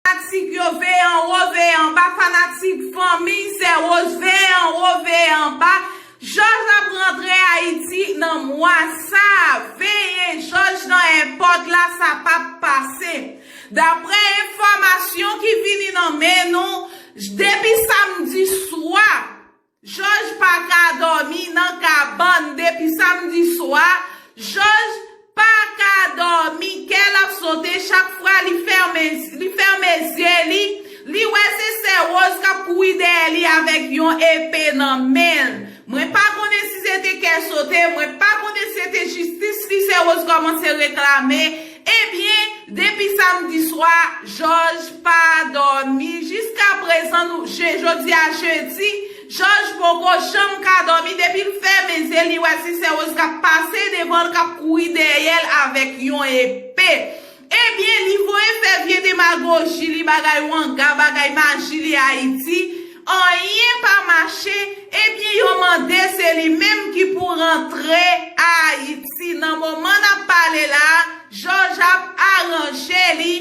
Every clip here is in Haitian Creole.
Fanatik yo veye anwo veye anba fanatik fanmi sè rose veye anwo veye anba jòj ap rantre ayiti nan mwa sa veye jòj nan èpòt la sa pap pase daprè enfòmasyon ki vini nan men nou depi samdi swa. Jòj pa ka dòmi nan kabann depi samdi swa, Jòj pa ka dòmi, kè l ap sote chak fwa li fèmen li fèmen zye li, li wè se sè Woz k ap kouri dèyè li avèk yon epe nan men l. Mwen pa konnen si se te kè sote, mwen pa konnen si se te jistis li sè Woz kòmanse reklame, Ebyen, depi samdi swa, Jòj pa dòmi jiskaprezan nou je jodi a jedi, Jòj poko janm ka dòmi depi l fèmen zye li wè ti sè Woz k ap pase devan l k ap kouri dèyè l avèk yon epe. Ebyen, li voye fè vye demagoji li bagay wanga, bagay maji li Ayiti, Anyen pa mache, ebyen yo mande se li menm ki pou rantre Ayiti. Nan moman n ap pale la a, Jòj ap aranje li,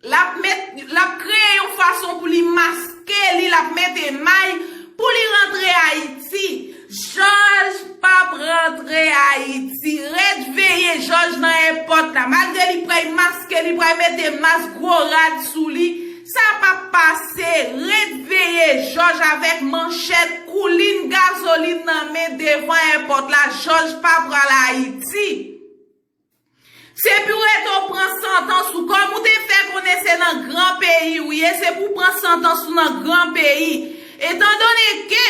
l ap met, l ap kreye yon fason pou li maske li, l ap mete may pou li rantre Ayiti. Jòj p ap rantre Ayiti. Ret veye Jòj nan èpòt la. Malgre li pray maske, li pray mete mas, gwo rad sou li. Sa pa p pase, ret veye jòj avèk manchèt, koulin gazolin nan men devan èpòt la, jòj pa pral Ayiti. Se pou ret ou pran santans ou, kòm ou te fè konnen se nan gran peyi ou ye, se pou w pran santans ou nan gran peyi. Etandone ke.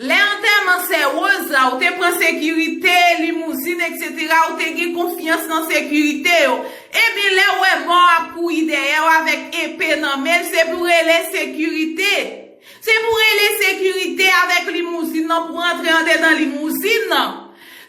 Lè antèman sè Rose la ou te pran sekirite, limouzin etc ou te gen konfyans nan sekirite yo. Ebyen lèw wè mò a ap kouri dèyèw avèk epe nan menl se pou rele sekirite. Se pou rele sekirite avèk limouzin nan pou antre andedan limouzin nan.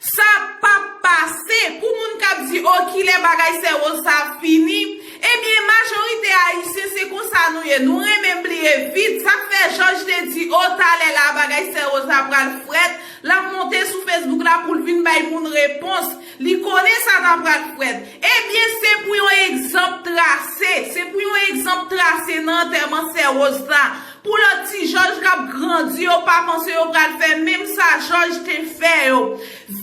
Sa pap pase! Pou moun k ap di oh kilè bagay sè Rose sa ap fini, ebyen majorite ayisyen se konsa nou ye, nou renmen bliye vit, sa fè Jòj te di oh talè la bagay sè Rose la pral frèt, l ap monte sou Facebook la pou l vin bay moun repons, li konnen sa ta pral frèt. Ebyen se pou yon egzanp trase, se pou yon egzanp trase nan antèman sè Rose la, Pou lòt ti jòj k ap grandi yo pa panse yo pral fè menm sa jòj te fè yo.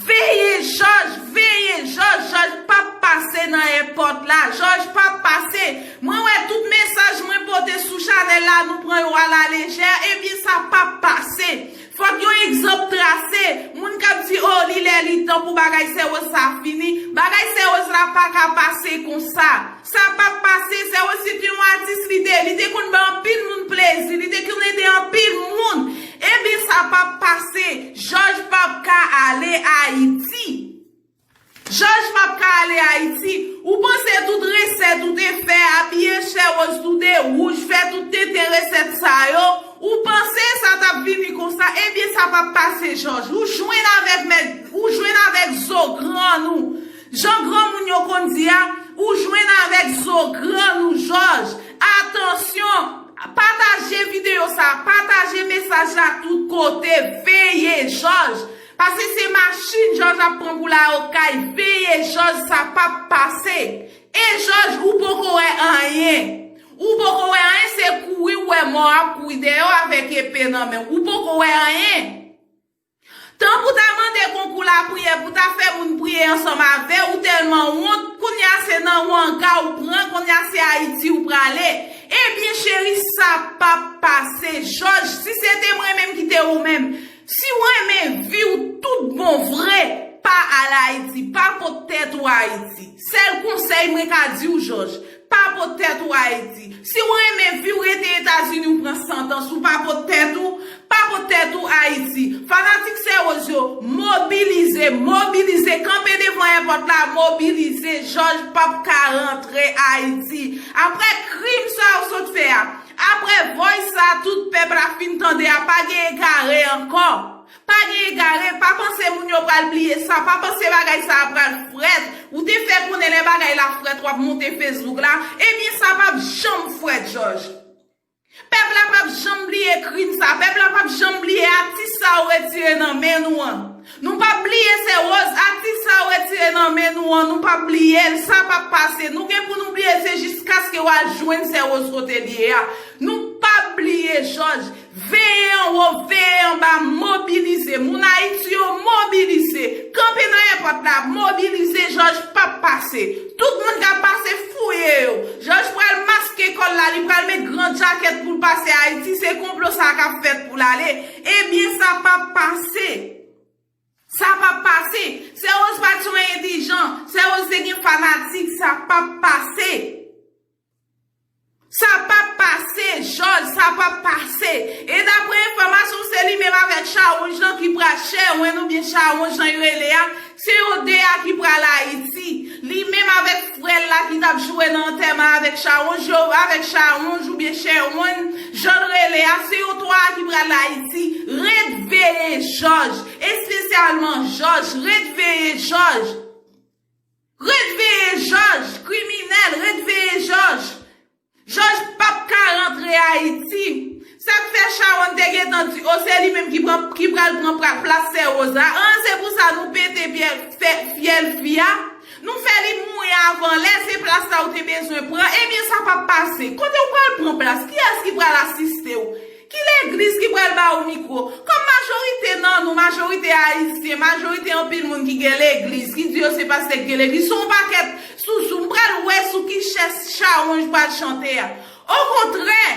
Veye jòj! Veye jòj! Jòj p ap pase nan èpòt la. Jòj p ap pase. Mwen wè tout mesaj mwen pote sou chanèl la nou pran yo alalejè, ebyen sa p ap pase. Fòk yon egzanp trase. Moun k ap di oh li lè li tan pou bagay sèwòs sa fini. Bagay sèwòs la pa ka pase konsa. Sa pap pase, sè Wesly se te yon atis li te, li te konn bay anpil moun plezi, li te konn ede anpil moun, ebyen sa pap pase, Jòj pap ka ale Ayiti. Jòj pap ka ale Ayiti, ou panse tout resèt ou te fè, abiye chè woz toude wouj, fè tout tenten resèt sa yo, ou panse sa tap vini konsa, ebyen sa pap pase Jòj, ou jwenn avèk mèt, ou jwenn avèk zo grann ou. Jan granmoun yo konn di a, ou jwenn avèk zo grann ou jòj. Atansyon, pataje videyo sa, pataje mesaj la tout kote, veye jòj. Pase se machin jòj ap pran pou l al okay, veye jòj sa pap pase. E jòj ou poko wè anyen. Ou poko wè anyen se kouri ou wè mò a ap kouri dèyè w avèk epe nan men w. Ou poko wè anyen. Tan pou ta mande konkou lapriyè pou ta fè moun priye ansanm avè ou tèlman wont kounya se nan wanga ou pran kounya se ayiti ou prale ebyen cheri sa pap pase jòj si se te mwen menm ki te ou menm si ou renmen viw tout bon vre pa al ayiti pa pot tèt ou ayiti sèl konsèy mwen ka diw jòj Pa pot tèt ou Ayiti. Si w renmen vi w rete Etazini ou pran santans ou pa pot tèt ou, pa pot tèt ou Ayiti. Fanatik Sè Woz yo, mobilize, mobilize, kanpe devan èpòt la, mobilize, Jòj p ap ka rantre Ayiti. Aprè krim sa ou sot fè a, aprè voice sa tout pèp la fin tande a pa gen egare ankò. Pa gen egare, pa panse moun yo pral bliye sa, pa panse bagay sa a pral frèt, ou te fè konnen lè bagay la frèt wap monte Facebook la, ebyen sa pap janm frèt jòj. Pèp la pap janm bliye krim sa, pèp la pap janm bliye atis sa yo retire nan men nou an. Nou pap bliye sè Rose, atis sa yo retire nan men nou an, nou pap bliye l, sa pap pase, nou gen pou nou bliye l se jiskaske wa jwenn sè Rose kote l ye a. Nou pap bliye jòj. Veye anwo, veye anba, mobilize! Moun Ayiti yo, mobilize! Kanpe nan èpòt la, mobilize! Jòj p ap pase. Tout moun k ap pase, fouye yo! Jòj pral maske kò l la, li pral met gran djakèt pou l pase Ayiti, se konplo sa a k ap fèt pou l ale. Ebyen, sa p ap pase! Sa p ap pase! Sè Woz pa t yon endijan, Sè Woz te gen fanatik, sa p ap pase! Sa pap pase jòj sa pap pase e daprè enfòmasyon se li menm avèk chawonj lan ki pral chèwenn oubyen chawon jan y rele a se yo 2 a ki pral ayiti li menm avèk frèl la ki tap joure nan antèman avèk chawonj yo avèk chawonj oubyen chèwonn janl rele a se yo 3 a ki pral ayiti ret veye jòj espesyalman jòj ret veye jòj. Ret veye jòj kriminèl ret veye jòj jòj pap ka rantre ayiti sak fè chawony te gentan di oh se li menm ki pral pran plas sè rosa anh se pou sa nou pete fyèl fi a nou fè li mouri avan lè se plas sa ou te bezwen pran ebyen sa pap pase kotew pral pran plas kiyès ki pral asistew Ki legliz ki pral ba ou mikro? Kòm majorite nan nou, majorite ayisyen, majorite anpil moun ki gen legliz, ki di yo se pastè ki gen legliz, se yon pakèt sousou. M pral wè sou ki chès chawonj pral chante a. Okontrè,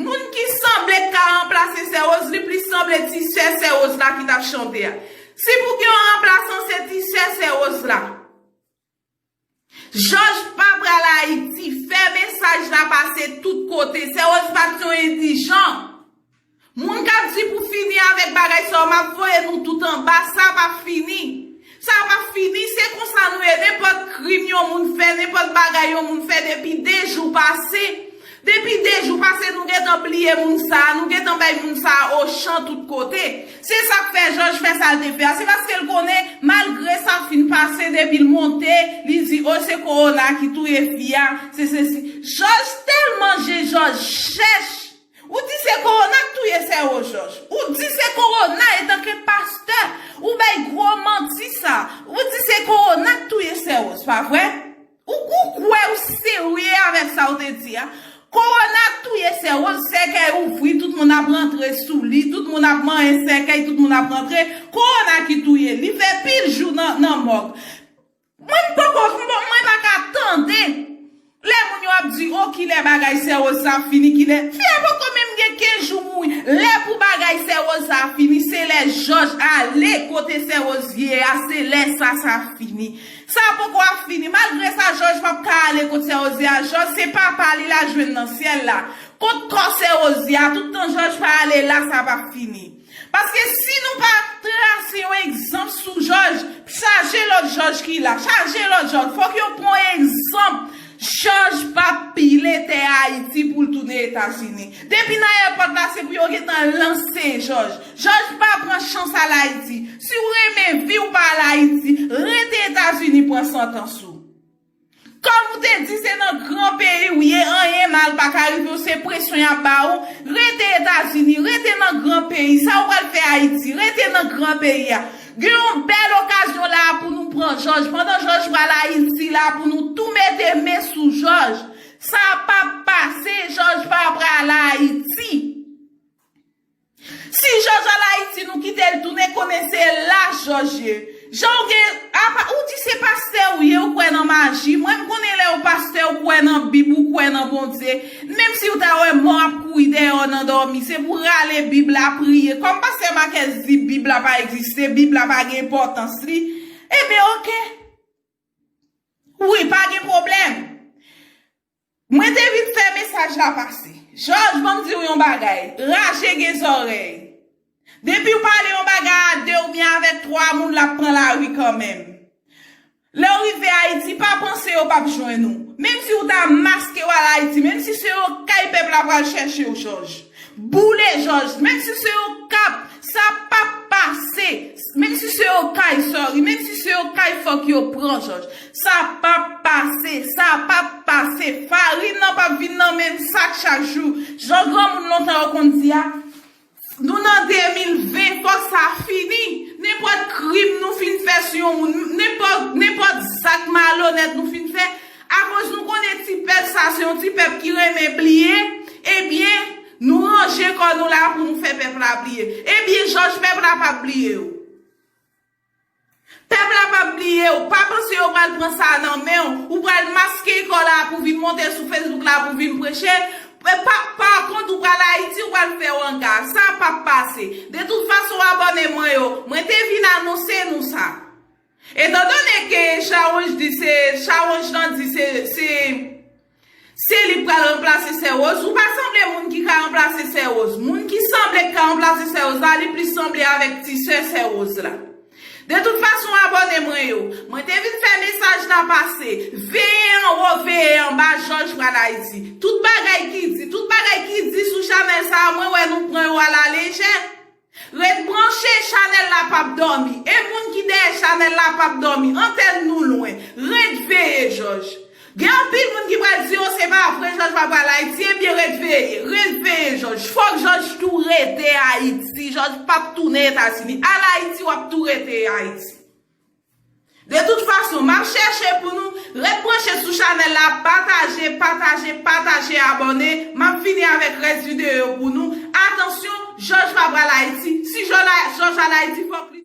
moun ki sanble k ka ranplase Sè Woz, li plis sanble ti sè Sè Woz la ki t ap chante a. Si pou gen yon ranplasan, se ti sè Sè Woz la. Jòj pa pral Ayiti, fè mesaj la pase tout kote, Sè Woz pat yon endijan. Moun kap di pou fini avèk bagay sa yo map voye nou tout anba, sa pap fini. Sa pap fini, se konsa nou ye nenpòt krim yon moun fè, nenpòt bagay yon moun fè depi 2 jou pase, Depi 2 jou pase nou gentan bliye moun sa, nou gentan bay moun sa ochan tout kote. Se sak fè Jòj fè sal te fè a, se paske l konnen malgre sa fin pase depi l monte li di oh se kowona ki touye fi a, se sesi. Jòj tèlman je Jòj chèch! Ou di se kowona k touye sè ou Jòj, ou di se kowona etanke pastè ou bay gwo manti sa, ou di se kowona k touye sè ou, s pa vre? Ou ou kwè ou serye avèk sa ou te di a? Kowona touye sè Rose sèkèy ouvri tout moun ap rantre sou li tout moun ap manyen sèkèy tout moun ap rantre kowona ki touye li fè pil jou nan nan mòg mwen m poko mwen pa ka tande lè moun yo ap di oh kilè bagay sè Rose sa ap fini kilè fi a poko menm gen 15 jou mouri lè pou bagay sè Rose sa fini se lè jòj ale kote sè Rose ye a se lè sa sa fini. Sa a poko ap fini. Malgre sa Jòj pap ka ale kot sè Ozi a. Jòj se papa li la jwenn nan syèl la. Kot kò sè Ozi a, tout tan Jòj pa ale la sa pap fini. Paske si nou pa trase yon egzanp sou Jòj, chaje lòt Jòj ki la. Chaje lòt Jòj. Fòk yo pran egzanp. Chaj pap pile tè Ayiti pou l tounen Etazini. Depi nan èpòt la se pou yo gentan lanse Jòj. Jòj pa pran chans al Ayiti. Si w renmen vi w pa al Ayiti, rete Etazini pran santans ou. Kòm ou te di se nan gran peyi w ye anyen mal pa ka rive w se presyon y ap ba ou, rete Etazini, rete nan gran peyi. Sa ou pral fè Ayiti? Rete nan gran peyi a. Gen yon bèl okazyon la a pou nou pran jòj. Pandan jòj pral Ayiti la a pou nou tou mete men sou jòj. Sa a pap pase, jòj pa pra al Ayiti. Si jòj al Ayiti nou kite l tounen konnen se la jòj ye. Jan w gen, apa, ou di se pastè ou ye ou kwè nan maji, mwen m konnen lè ou pastè ou kwè nan bib ou kwè nan Bondye. Menm siw ta wè mò ap kouri dèyè w nan dòmi, se pou rale bib la, priye. Kòm pastè Marquez di bib la pa egziste, bib la pa gen enpòtans li, enben ok. Wi, pa gen pwoblèm. Mwen te vin fè mesaj la pase. Jòj, banm di w yon bagay, raje gen zòrèy. Depiw pale yon bagay a 2 oubyen avèk 3 moun lap pran lari kanmenm. Lèw rive ayiti pa panse yo pap jwenn ou menm si ou ta maskew al ayiti menm si se yon kay pèp la pral chèchew jòj boule jòj menm si se yon kap sa pap pase menm si se yon kay sorry menm si se yon kay fòk yo pran jòj sa pap pase sa pap pase farin nan pap vin nan menm sak chak jou jan granmoun lontan yo konn di a. Nou nan 2020 fòk sa fini, nenpòt krim nou fin fè sou yon moun, nenpòt zak malonèt nou fin fè, akoz nou konnen ti pèp sa se yon ti pèp ki renmen bliye, ebyen nou ranje kò nou la pou nou fè pèp la bliye. Ebyen jòj pèp la pap bliye ou. Pèp la pap bliyew, pa panse yo pral pran sa a nan menw, ou pral maske kò la pou vin monte sou Facebook la pou vin preche, pa pa kont ou pral Ayiti ou pral fè wanga, sa a pap pase. De tout fason abòne mwen yo, mwen te vin anonse nou sa. Etan done ke Sharonj di se, Sharonj lan di se, se. Se li k pral ranplase sè Rose? Ou pa sanble moun ki ka ranplase sè Rose. Moun ki sanble k ka ranplase sè Rose la, li plis sanble avèk ti sè sè Rose la. De tout fason abòne mwen yo, mwen te vin fè mesaj la pase, veye anwo, veye anba jòj pral Ayiti. Tout bagay ki di, tout bagay ki di sou chanèl sa a mwen wè nou pran yo alalejè. Ret branche chanel la pap domi. E moun ki dèyè chanel la pap domi. Antèn nou lwen. Ret veye jòj. Gen anpil moun ki pral di oh se pa vre jòj pa pral ayiti ebyen ret veye. Ret veye jòj. Fòk jòj tou rete ayiti. Jòj pap tounen etazini. Al ayiti wap tou rete ayiti. De tout fason map chèche pou nou ret branche sou chanèl la pataje pataje pataje abòne map vini avèk rès videyo yo pou nou atansyon jòj pa pral ayiti si jòj al ayiti fòk li